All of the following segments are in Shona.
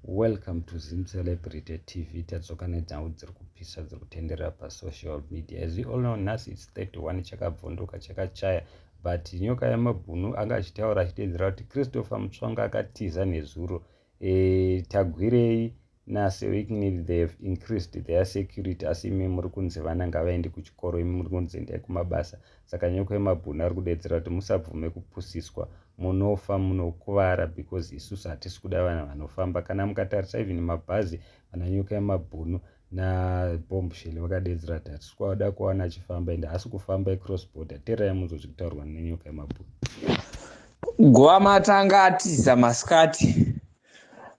Welcome to Zim Celebrity TV. Tadzoka nedzangu dziri kupisa dziri kutenderera pasocial media. As you all know, nhasi it's 31 chakabvunduka chakachaya but nyoka yamabhunu anga achitaura achitedzera kuti Christopher Mutsvanga akatiza nezuro. Eh, tagwirei nase weekend they have increased their security asi imi muri kunzi vana ngavaende kuchikoro imi muri kunzi endai kumabasa saka nyoka yemabhunu ari kudedzera kuti musabvume kupusiswa munofa munokuvara because isusu hatisi kuda vana vanofamba kana mukatarisa even mabhazi vana nyoka yemabhunu nabombshel vakadedzera kuti hatisi kwada kuwana achifamba ende haasi kufamba ecross border terai munzwa zviri kutaurwa nenyoka yemabhunu guva matanga atiza masikati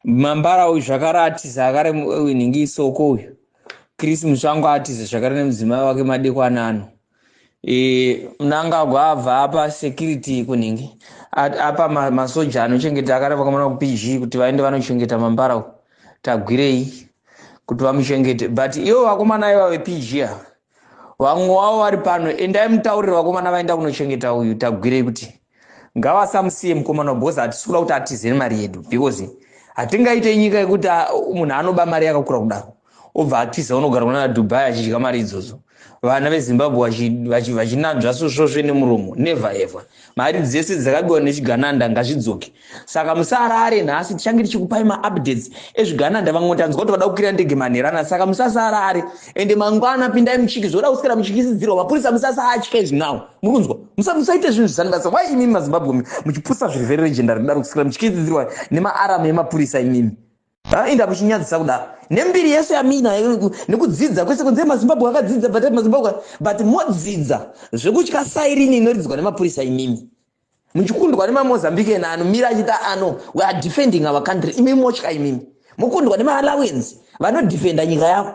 mambara uyu zvakare atiza akare winhingi isoko uyu chris musvango atiza zvakare nemudzimai wake madekwanano e, mnangagwa abva apa security kunhingi apa masoja anochengeta akareva kamana kupg kuti vaende vanochengeta mambara u tagwirei kuti vamuchengete but ivo vakomana iva vepg a vamwe wavo vari pano endai mutaurire vakomana vaenda kunochengeta uyu tagwirei kuti Ngavasamusiye mukomana because hatisi kuda kuti atize nemari yedu because hatingaite nyika yekuti ah, munhu anoba mari yakakura kudaro obva atiza unogara kunana dubai achidya mari idzodzo vana vezimbabwe vachinanzva sosvosve nemuromo never ever mari dzese dzakabiwa nechigananda ngazvidzoke saka musarare nhasi tichange tichikupai maupdates ezvigananda vamwe tanzwa kuti vada kukwira ndege manherana saka musasarare ende mangwana pindai muchiki zvoda kuswera muchikisidzirwa mapurisa musasatye izvi now muri kunzwa musaite zvinhu zvisani basa why imimi mazimbabwe muchipusa zviri very legendary kudaro kuswera muchikisidzirwa nemaaram emapurisa imimi inda muchinyadzisa kudaro nembiri yese yamina nekudzidza kwese kunze mazimbabwe akadzidza but mazimbabwe but modzidza zvekutya sairini inoridzwa nemapurisa imimi muchikundwa nemamozambican ano mira achita ano weare defending our country imimi motya imimi mokundwa nemaalawens vanodefenda nyika yavo